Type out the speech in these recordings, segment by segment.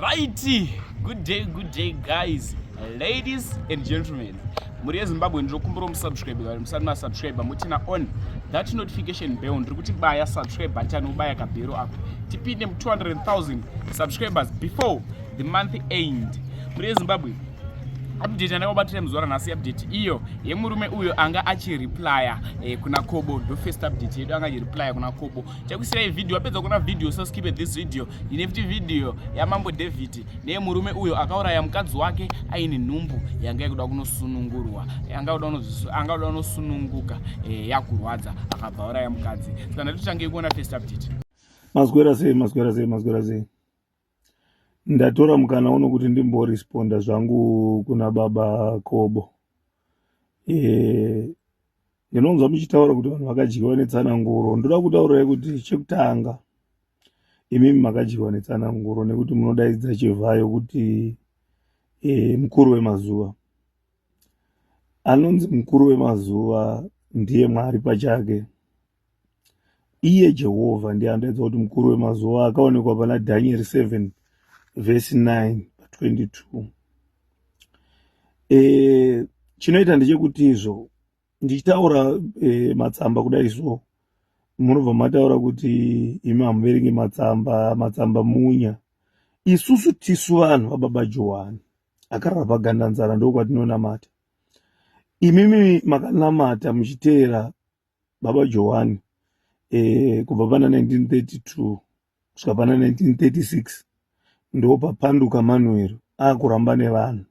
Righty, good day, good day guys, ladies and gentlemen. Muri yeZimbabwe ndinokumbira musubscribe vari musati masubscribe mutina on that notification bell ndiri kuti baya subscribe button ubaya kabhero apo tipinde mu 200,000 subscribers before the month end. Muri yeZimbabwe update yandakabatira muzuva ranhasi update iyo yemurume uyo anga achireplya eh, kuna kobo ndofirst update yedu anga achireplya kuna kobo chakusirai video wapedza kuona video so skip this video ine futi video yamambo david neyemurume uyo akauraya mukadzi wake aine nhumbu yanga yakuda kunosunungurwa anga kuda kunosununguka eh, yakurwadza akabva auraya mukadzi saka ndatitange kuona first update mazwera sei mazwera sei mazwera sei ndatora mukana uno kuti ndimboresponda zvangu kuna baba kobo e, ndinonzwa muchitaura kuti vanhu vakadyiwa netsananguro ndoda kutaurirai kuti chekutanga imimi makadyiwa netsananguro nekuti munodaidza chivhayo kuti e, mukuru wemazuva anonzi mukuru wemazuva ndiye mwari pachake Iye Jehovha ndiye anotaridza kuti mukuru wemazuva akaonekwa pana Dhanieri 7 vhesi 9 22 e, chinoita ndechekuti izvo ndichitaura e, matsamba kudai so munobva mataura kuti imi hamuverenge matsamba matsamba munya isusu tisu vanhu vababa johani akarara pagandanzara ndokwatinonamata imimi makanamata muchiteera baba johani e, kubva pana 1932 kusvika pana 1936 ndo papanduka manuero aakuramba nevanhu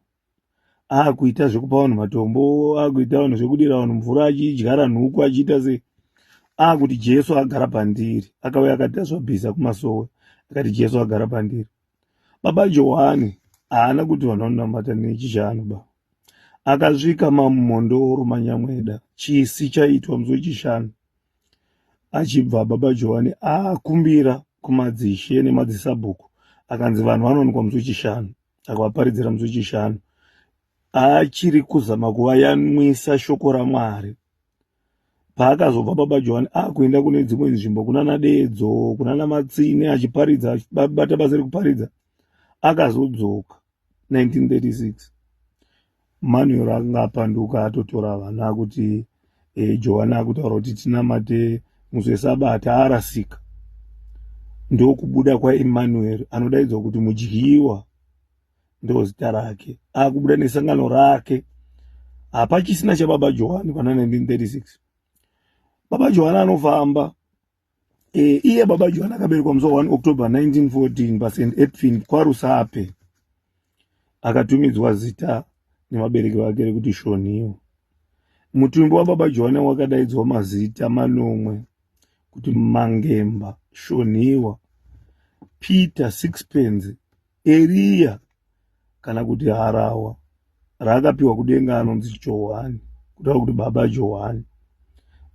aakuita zvekupa vanhu matombo aakuita vanhu zvekudira vanhu mvura achidyara nhuku achiita sei aakuti jesu agara pandiri akauya akati azvabhiza kumasowe akati jesu agara pandiri baba johani haana kuti vanhu vanonamata nechishanu baba akasvika mamumhondoro manyamweda chisi chaitwa musi wechishanu achibva baba johani akumbira kumadzishe nemadzisabhuku akanzi vanhu vanowanikwa musi wechishanu akavaparidzira musi wechishanu achiri kuzama kuvayanwisa shoko ramwari paakazobva baba johani akuenda kune dzimwe nzvimbo kunana dedzo kunana matsine achiparidza achibata basa rekuparidza akazodzoka 1936 manuel akanga apanduka atotora vana akuti e, eh, johani akutaura kuti tinamate musi wesabata arasika ndokubuda kwaemanuel anodaidzwa kuti mudyiwa ndozita rake akubuda nesangano rake hapachisina chababa johani pana 1936 baba johani anofamba Eh, iye baba John akaberekwa musi wa 1 October 1914 paSt Edwin kwaRusape. Akatumidzwa zita nevabereki vake rekuti Shoniwa. Mutumbi wababa John wakadaidzwa mazita manomwe kuti Mangemba, Shoniwa, Peter Sixpence Eriya kana kuti harawa raakapiwa kudenga anonzi Johani, kutaura kuti baba Johani.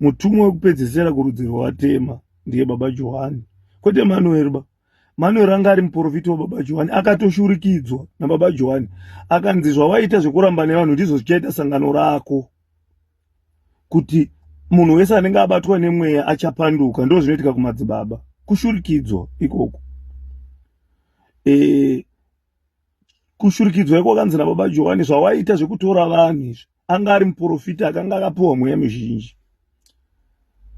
Mutumwa wekupedzesera kurudzi rwatema ndiye baba Johani, kwete Manueri ba. Manueri anga ari muprofiti wababa Johani, akatoshurikidzwa nababa Johani, akanzi zvawaita zvekuramba nevanhu ndizvo zvichaita sangano rako. kuti munhu wese anenge abatwa nemweya achapanduka ndo zvinoitika kumadzibaba kushurikidzwa ikoko e, kushurikidzwa iko kanzi nababa johani zvawaita zvekutora vanhu izvi anga ari muprofita akanga akapiwa mweya mizhinji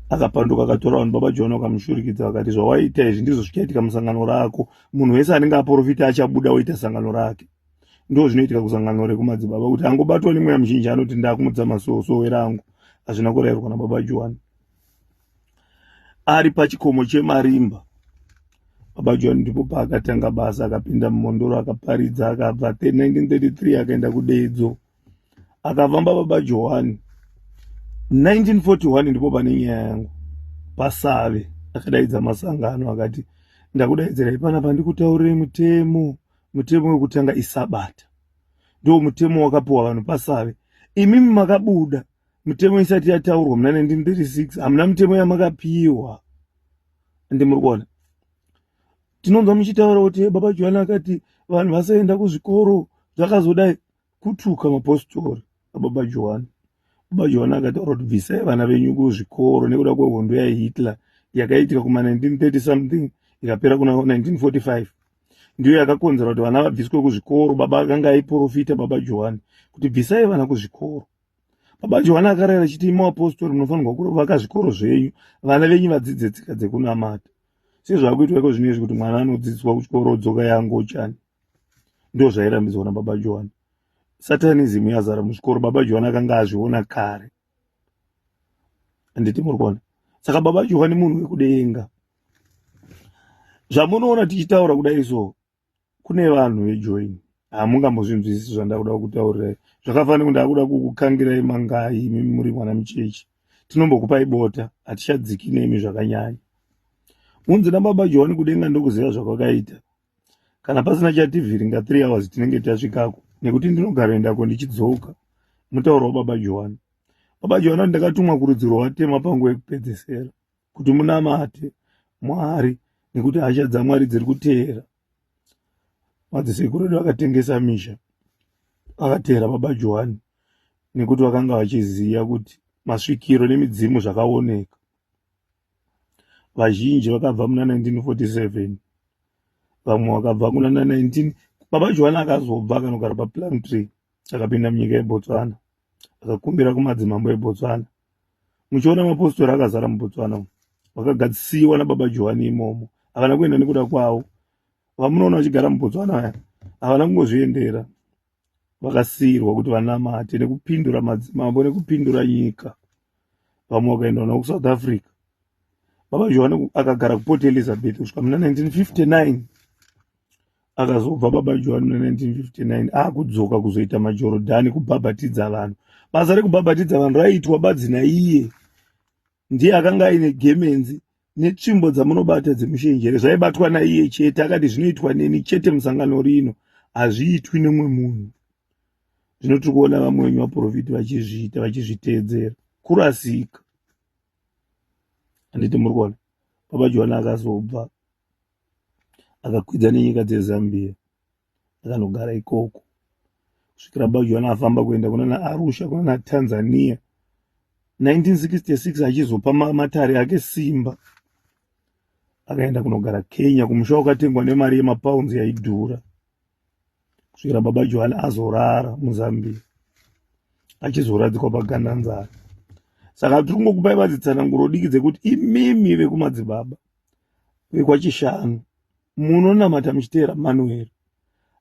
akapanduka akatora vanhu baba johani wakamushurikidza vakati zvawaita izvi ndizvo zvichaitika musangano rako munhu wese anenge aprofita achabuda woita sangano rake ndo zvinoitika kusangano rekumadzibaba kuti angobatwa nemweya muzhinji anoti ndakumudza masosowe rangu hazvina kurairwa nababa johani ari pachikomo chemarimba baba johani ndipo paakatanga basa akapinda mumondoro akaparidza akabva 1933 akaenda kudedzo akavamba baba johani 1941 ndipo pane nyaya yangu pasave akadaidza masangano akati ndakudaidzirai pana pandikutaurire mutemo mutemo wekutanga isabata ndo mutemo wakapiwa vanhu pasave imimi makabuda mutemo isati yataurwa muna 1936 hamuna mutemo yamakapiwa ende muri kuona tinonzwa muchitaura kuti baba johani akati vanhu vasaenda kuzvikoro zvakazodai kutuka mapositori ababa johani baba johani akataura kuti bvisai vana venyu kuzvikoro nekuda kwehondo yahitler yakaitika kuma 1930 something ikapera kuna 1945 ndiyo yakakonzera kuti vana vabviswe kuzvikoro baba akanga aiprofita baba johani kuti bvisai vana kuzvikoro baba johani akarayira chiti imi vapostori munofanirwa kuvaka zvikoro zvenyu vana venyu vadzidze tsika dzekunamata sezvakuitwa iko zvino izvi kuti mwana anodzidziswa kuchikoro dzoka yangochani ndozvairambidzwa nababa johani satanism yazara muzvikoro baba johani akanga azviona kare handiti muri kuona saka baba johani munhu wekudenga zvamunoona tichitaura kudai so kune vanhu vejoin hamungambozvinzwisisi zvandakuda kutaurirai zvakafanira kundakuda kukukangirai mangai imi muri mwana muchechi tinombokupai bota hatichadziki nemi zvakanyanya unzi nababa johani kudenga ndokuziva zvakwakaita kana pasina chativhiringa three hours tinenge tasvikako nekuti ndinogara endako ndichidzoka mutauro wababa johani baba johani ati ndakatumwa kurudzi rwatema pangu yekupedzesera kuti munamate mwari nekuti hasha dzamwari dziri kuteera madzisekuru edu akatengesa misha akateera baba johani nekuti vakanga vachiziva kuti masvikiro nemidzimu zvakaoneka vazhinji vakabva muna 1947 vamwe vakabva kuna 19 baba joana akazobva akanogara paplum tree akapinda munyika yebotswana akakumbira kumadzimambo ebotswana muchiona mapostori akazara mubotswana vakagadzisiwa nababa johani imomo havana kuenda nekuda kwavo vamunoona vachigara mubotswana aya havana kungozviendera vakasiirwa kuti vanamate nekupindura madzimambo nekupindura nyika vamwe vakaendwa navo kusouth africa baba johani akagara kuport elizabeth kusvika muna 1959 akazobva baba johani muna 1959 akudzoka kuzoita majorodhani kubhabhatidza vanhu basa rekubhabhatidza vanhu raiitwa badzi naiye ndiye akanga aine gemenzi netsvimbo dzamunobata dzemushenjere zvaibatwa naiye chete akati zvinoitwa neni chete musangano rino hazviitwi nemwe munhu zvino tiri kuona vamwe venyu vaprofiti vachizviita vachizviteedzera kurasika handiti muri kuona baba johani akazobva akakwidza nenyika dzezambia ndakanogara ikoko kusvikira bajohani afamba kuenda kunana arusha kunana tanzania 1966 achizopa matare ake simba akaenda kunogara kenya kumusha wakatengwa nemari yemapounds yaidhura kusvikira baba johani azorara muzambia achizoradzikwa pagandanzara saka tiri kungokupai vadzitsananguro diki dzekuti imimi vekumadzibaba vekwaChishanu munonamata muchiteera mano here?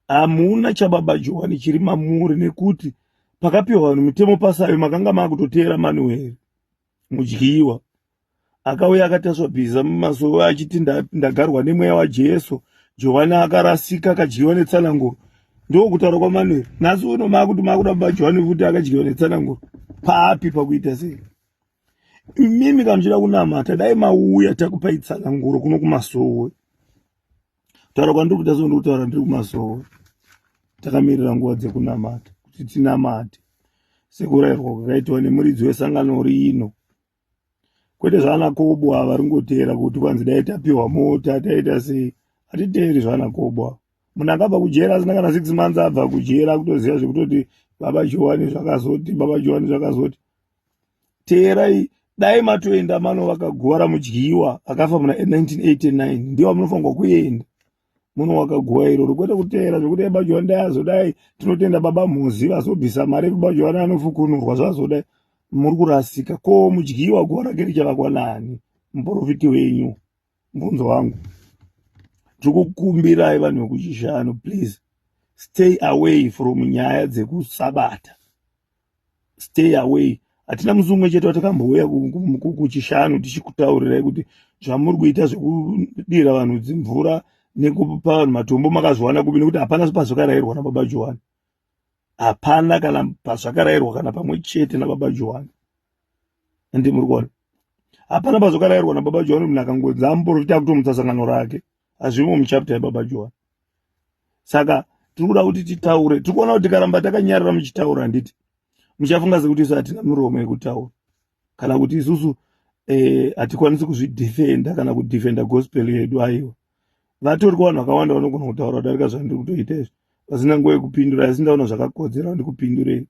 Hamuna chababa Johani chiri mamuri nekuti pakapiwa vanhu mitemo pasayo makanga makutoteera mano here? Mudyiwa akauya akataswa bhiza mumasowe achiti ndagarwa nemweya waJesu. Johani akarasika akadyiwa netsananguro ndokutaura kwamano nhasi uno makuti makuda baba Johani kuti akadyiwa netsananguro papi pakuita sei? imimi kana muchida kunamata dai mauya takupai tsanganguro kuno kumasowe taura kwandiri kuita soo ndikutaura ndiri kumasowe takamirira nguva dzekunamata kuti tinamate sekurayirwa kwakaitwa nemuridzi wesangano rino kwete zvaanakobo ava vari ngoteera kuti kwanzi dai tapiwa mota taita sei hatiteeri zvaanakobo ava munhu akabva kujera asina kana six months abva kujera akutoziva zvekutoti baba johani zvakazoti baba johani zvakazoti teerai dai matoenda mano vakagovara mudyiwa akafa muna 1989 ndiwo munofanirwa kuenda muno wakaguwa iroro kwete kuteera zvekuti ebajiwa ndayazodai tinotenda baba mhozi vazobvisa mari ekubajiwa naanofukunurwa zvazodai muri kurasika ko mudyiwa guva rake richavakwa nani muporofiti wenyu mubvunzo wangu tikukumbirai vanhu vekuchishanu please stay away from nyaya dzekusabata stay away hatina musi umwe chete watakambouya kuchishanu tichikutaurirai kuti zvamuri kuita zvekudira vanhu dzimvura nekupa vanhu matombo makazviwana kubi nekuti hapana pazvakarayirwa nababa johani hapana kana pazvakarayirwa kana pamwe chete nababa johani ende muri kuona hapana bazokarairwa nababa johani munhu akangoedza amuporofita akutomutsa sangano rake hazvimo muchapta yababa johani saka tiri kuda kuti titaure tiri kuona kuti tikaramba takanyarira muchitaura handiti muchafunga sekuti isu hatina miromo yekutaura kana kuti isusu eh, hatikwanisi kuzvidefenda kana kudefenda gospel yedu aiwa vatori ko vanhu vakawanda vanogona kutaura kudarika zvandiri kutoita izvi vasina nguva yekupindura asi ndaona zvakakodzera ndikupindurei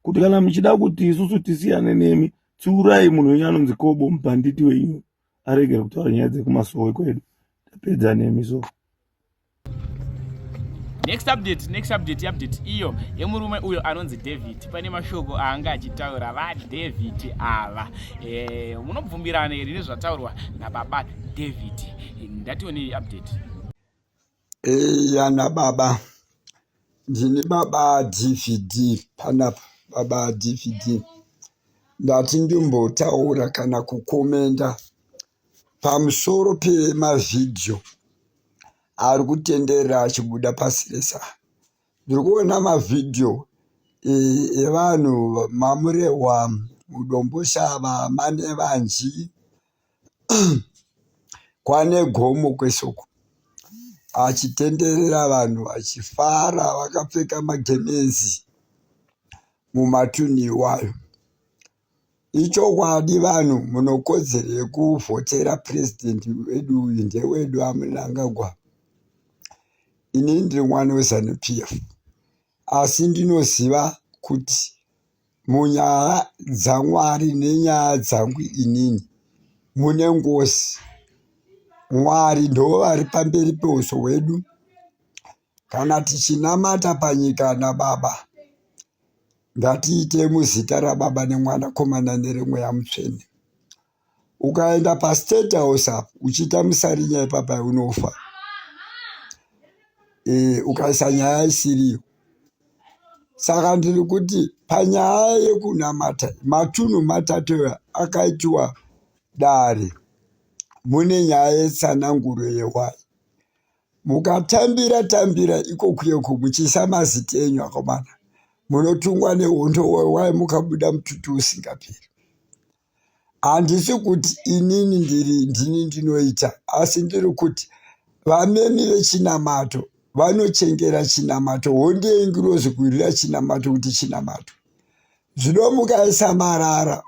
kuti kana muchida kuti isusu tisiyane nemi tsiurai munhu wenyu anonzi kobo mubhanditi wenyu aregere kutaura nyaya dzekumasowe kwedu tapedza nemi so next update next update update iyo yemurume uyo anonzi david pane mashoko aanga achitaura vadavid ava eh, munobvumirana here nezvataurwa nababa David ndationei update eya eh, nababa ndini baba dvd panapa baba dvd ndati ndimbotaura kana kukomenda pamusoro pemavhidhiyo ari kutenderera achibuda pasi rese ndiri kuona mavhidhiyo eh, evanhu mamurehwa mudomboshava manevanji kwane gomo kwesoko achitenderera vanhu vachifara vakapfeka magemenzi mumatunhu iwayo. Ichokwadi vanhu munokodzero yekuvhotera purezidhendi wedu uyu ndewedu aMnangagwa. Ini ndiri mwana weZanu PF asi ndinoziva kuti Munyaya dzaMwari nenyaya dzangu inini mune ngozi. Mwari ndovari pamberi peuso hwedu. Kana tichinamata panyika naBaba, ngatiite muzita raBaba neMwanakomana neremweya mutsvene. ukaenda pastate house apo uchiita musarinya ipapa unofa e, ukaisa nyaya isiriyo saka ndiri kuti panyaya yekunamata matunhu matatu akaitiwa dare mune nyaya yetsananguro yewai mukatambira tambira ikokuyeko muchiisa maziti enyu akomana munotungwa nehondo wewai mukabuda mututu usingaperi handisi kuti inini ndiri ndini ndinoita asi ndiri kuti vamemi vechinamato vanochengera chinamato hondei ngirozi kurira chinamato kuti chinamato zvinomuka isamarara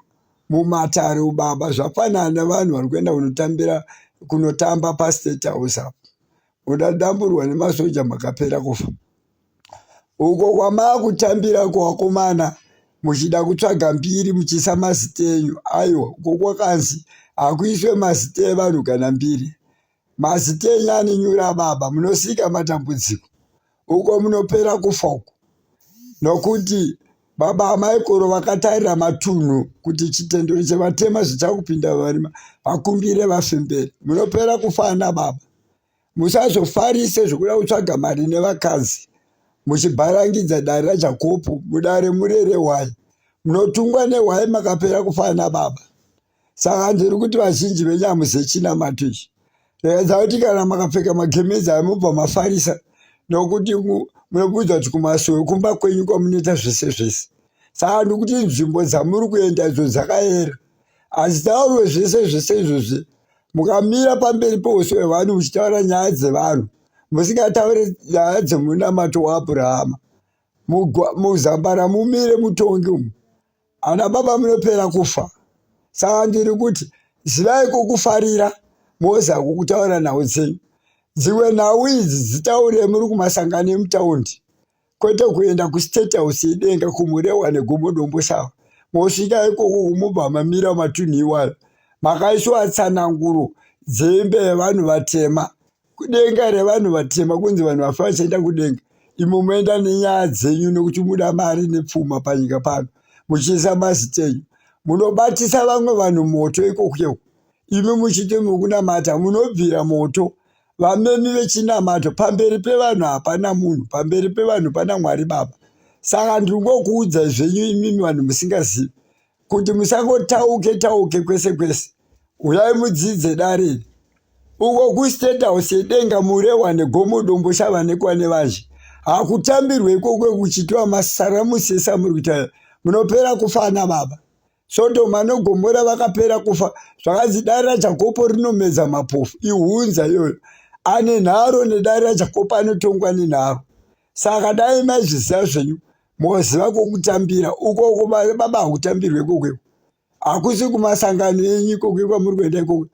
mumatare ubaba zvafanana nevanhu vari kuenda kunotambira kunotamba pastate house apo unodamburwa nemasoja makapera kufa uko kwamakutambira kuvakomana muchida kutsvaga mbiri muchiisa mazita enyu aiwa uko kwakanzi hakuiswe mazita evanhu kana mbiri mazita enyu anenyura baba munosika matambudziko uko munopera kufa uko nokuti baba amaikoro vakatarira matunhu kuti chitendero chevatema zvichakupinda varima vakumbire vafemberi munopera kufa ana baba Musazofarise zvekuda kutsvaga mari nevakadzi muchibharangidza dare raJakopu mudare murere hwai. Munotungwa nehwai makapera kufana nababa. Saka ndiri kuti vazhinji venyu hamuzive chinamato ichi. Rekedza kuti kana makapfeka magemenzi ayo mobva mafarisa nokuti munobudzwa kuti kumasuo ekumba kwenyu kwamunoita zvese zvese. Saka ndiri kuti nzvimbo dzamuri kuenda idzo dzakayera. Asi taurwe zvese zvese izvozvi mukamira pamberi peuso hwevanhu muchitaura nyaya dzevanhu musingataure nyaya dzemunamato waabhurahama muzambara mumire mutongi umu ana baba munopera kufa saka ndiri kuti zivai kukufarira moza kukutaura nhau dzenyu dzimwe nhau idzi dzitaure muri kumasangano emutaundi kwete kuenda kustate house yedenga kumurewa negomo dombo shava mosvika ikoko kumubva mamira matunhu iwayo makaiswa tsananguro dzembe yevanhu vatema kudenga revanhu vatema kunzi vanhu vafa vachaenda kudenga imo moenda nenyaya dzenyu nekuti muda mari nepfuma panyika pano muchiisa mazita enyu munobatisa vamwe vanhu moto ikokuyeu imi muchiti mukunamata munobvira moto vamemi vechinamato pamberi pevanhu hapana munhu pamberi pevanhu pana mwari baba saka ndiri ngokuudza zvenyu imimi vanhu musingazivi kuti musangotauke tauke kwese kwese uyai mudzidze dariri uko kustate house yedenga murehwa negomo dombo chavanekwa nevazhe hakutambirwe ikoko kuchitiwa masaramusi esamuri kuita munopera kufana baba Sodoma noGomora vakapera kufa zvakanzi dare raJakobo rinomedza mapofu ihunza iyoyo ane nharo nedare raJakobo anotongwa nenharo saka dai maizviziva zvenyu moziva kwokutambira ukoko baba hakutambirwe kokweko hakusi kumasangano enyu ikoke kwamuri kuenda ikoke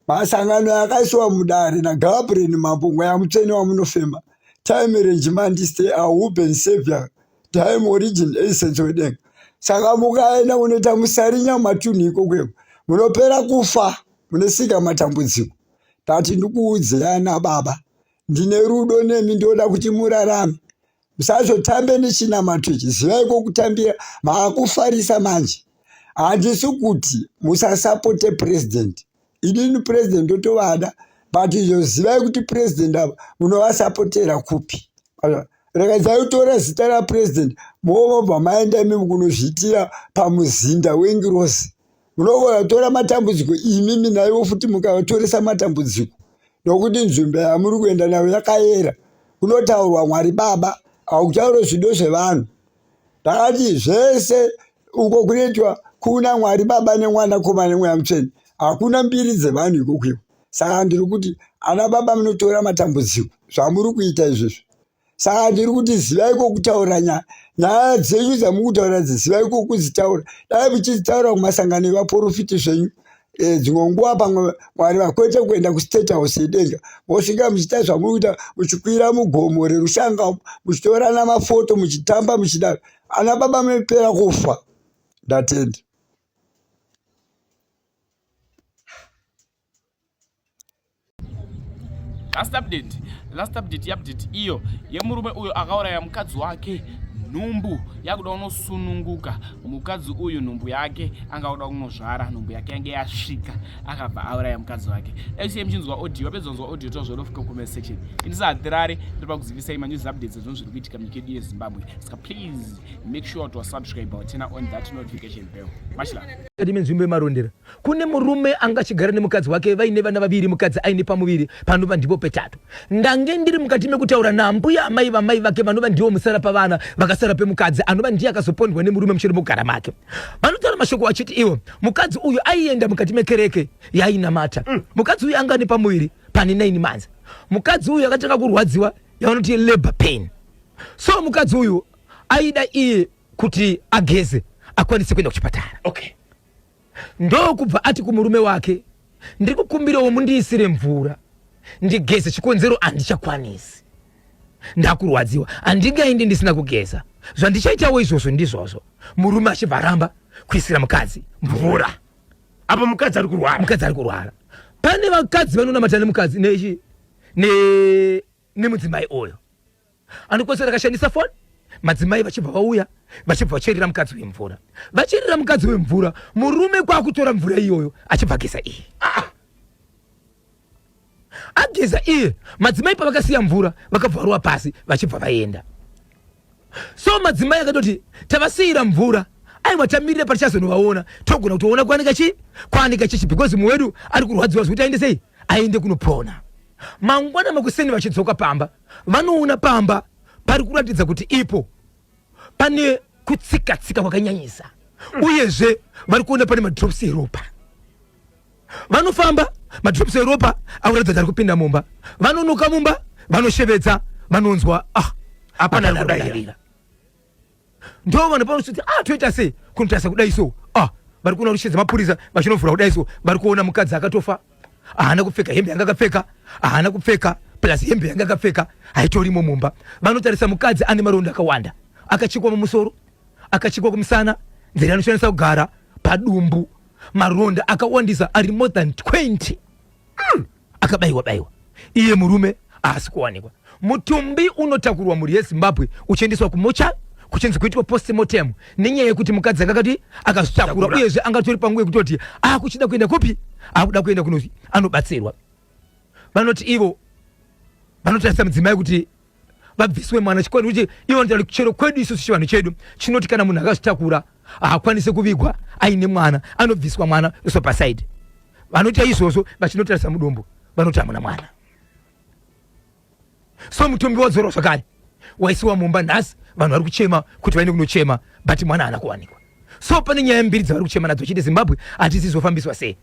masangano akaisiwa mudare nagabriel mambo mweya mutsvene wamunofema time renjimandiste ahuben savior time origin essence wedenga saka mukaenda kunoita musarinya matunhu ikokweko munopera kufa munosika matambudziko tati ndikuudzirana baba ndine rudo nemi ndinoda kuti murarame musazotambe nechinamato ichi zivai kwokutambira maakufarisa manje handisi kuti musasapote purezidenti inini president ndotovada but izvo zivai kuti president ava munovasapotera kupi rakadzai kutora zita rapresident movobva maenda imi kunozviitira pamuzinda wengirozi munovatora matambudziko imi minaivo futi mukavatoresa matambudziko nokuti nzvimbo yamuri kuenda nayo yakayera kunotaurwa mwari baba akuchaurozido zvevanhu Takati zvese uko kunoitwa kuna Mwari Baba nemwana koma nemweya mutsvene. Hakuna mbiri dzevanhu ikokwiwo. Saka ndiri kuti ana baba munotora matambudziko zvamuri kuita izvezvi. Saka ndiri kuti zivai kokutaura nyaya. Nyaya dzenyu dzamukutaura dzizivai kokudzitaura. Dai muchidzitaura kumasangano evaporofiti zvenyu. Eh, dzimwe nguva pamwe mwari vakwete kuenda kustate house yedenga mosvika muchiita zvamuri kuita muchikwira mugomo rerushanga muchitorana mafoto muchitamba muchidaro ana baba mepera kufa ndatenda last update last update yeupdate iyo yemurume uyo akauraya mukadzi wake nhumbu yakuda kunosununguka mukadzi uyu nhumbu yake anga kuda kunozvara nhumbu yake yange yasvika akabva auraya mukadzi wake actually muchinzwa audio wapedza kunzwa audio tozvodofika comment section indisahatirare tiri pakuzivisai manews updates ezvinhu zviri kuitika munyika yedu yezimbabwe saka please make sure to subscribe tena on that notification bell machla kadime nzvimbo yemarondera kune murume anga achigara nemukadzi wake vaine vana vaviri mukadzi aine pamuviri panova ndipo petatu ndange ndiri mukati mekutaura naambuya amai vamai vake vanova ndivo musara pavana vakasara pemukadzi anova ndiye akazopondwa nemurume mushure mekugara make vanotaura mashoko achiti iwo mukadzi uyu aienda mukati mekereke yainamata mm. mukadzi uyu anga ane pamuviri pane 9 manzi mukadzi uyu akatanga kurwadziwa yavanoti labor pain so mukadzi uyu aida iye kuti ageze akwanise kuenda kuchipatara okay. ndokubva ati kumurume wake ndiri kukumbirawo mundiisire mvura ndigeze chikonzero andichakwanisi ndakurwadziwa andingaindi ndisina kugeza zvandichaitawo izvozvo ndizvozvo murume achibva aramba kuisira mukadzi mvura apo mukadzi ari kurwara mukadzi ari kurwara pane vakadzi vanonamatira nemukadzi nechi nemudzimai oyo Anokwanisa rakashandisa foni madzimai vachibva vauya vachibva vacherera mukadzi wemvura vacherera mukadzi wemvura murume kwakutora mvura iyoyo achibva ageza iye ah! ageza iye madzimai pavakasiya mvura vakabva varuwa pasi vachibva vaenda so madzimai akatoti tavasiyira mvura aiwa tamirire patichazonovaona togona kutoona kwanika chii kwanika chichi because mumwe wedu ari kurwadziwa zvekuti aende sei aende kunopona mangwana makuseni vachidzoka pamba vanoona pamba pari kuratidza kuti ipo pane kutsikatsika kwakanyanyisa uyezve vari kuona pane madrops eropa vanofamba madrops eropa akuratidza kuti ari kupinda mumba vanonoka mumba vanoshevedza vanonzwa ah, hapana ari kudavira ndo vanhu panosviti ah toita sei kunotarisa kudai so ah vari kuona rushe dzemapurisa vachinovhura kudai so vari kuona mukadzi akatofa haana kupfeka hembe yanga akapfeka haana kupfeka plus hembe yanga akapfeka haitorimo mumba vanotarisa mukadzi ane maronda akawanda akachikwa mumusoro akachikwa kumusana nzira anoshandisa kugara padumbu maronda akawandisa ari more than 20 mm, akabaiwa baiwa iye murume haasi kuwanikwa mutumbi unotakurwa mhuri yezimbabwe uchiendeswa kumocha kuchinzi kuitwa postmortem nenyaya yekuti mukadzi anga akati akazvitakura uyezve anga tori panguva yekutoti akuchida ah, kuenda kupi akuda ah, kuenda kuno anobatsirwa vanoti ivo vanotarisa mudzimai kuti vabviswe mwana chikwani kuti ivo ndira chero kwedu isusu chivanhu chedu chinoti kana munhu akazvitakura haakwanise kuvigwa aine mwana anobviswa mwana iso pasaidi vanoita izvozvo vachinotarisa mudumbu vanoti hamuna mwana so mutumbi wadzorwa zvakare waisiwa mumba nhasi vanhu vari kuchema kuti vaende kunochema but mwana haana kuwanikwa so pane nyaya mbiri dzavari kuchema nadzo chiti zimbabwe hatisi zofambiswa sei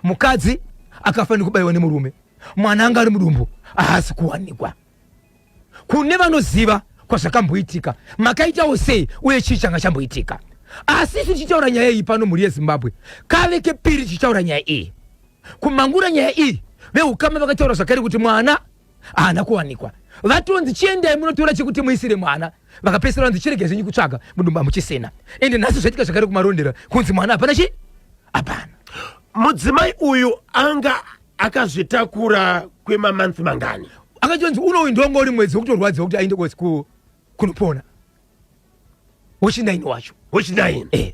mukadzi akafanira kubayiwa nemurume mwana anga ari mudumbu ahasi kuwanikwa kune vanoziva kwazvakamboitika makaitawo sei uye chii changa chamboitika asi isu tichitaura nyaya iyi pano mhuri yezimbabwe kave kepiri tichitaura nyaya iyi kumangura nyaya iyi veukama vakataura zvakare kuti mwana haana kuwanikwa vatonzi chiendai munotora chekuti muisire mwana vakapesera vanzi chirege zvenyu kutsvaga mudumba muchisina ende nhasi zvaitika zvakare kumarondera kunzi mwana hapana chi hapana mudzimai uyu anga akazvitakura kwemamonth mangani akatonzi unouyu ndonga uri mwedzi wekutorwadziwa kuti aende kwezi kunopona wechinaini wacho wechinaini eh.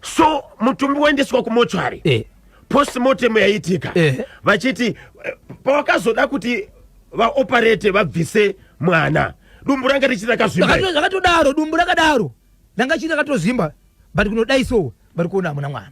so mutumbi waendeswa kumochwari eh. postmortem yaiitika eh. vachiti eh. pavakazoda kuti vaoparate vabvise mwana dumbu ranga richiti rakazvimbazvakatodaro dumbu rakadaro ranga chiti rakatozvimba but kunodai so vari kuona hamuna mwana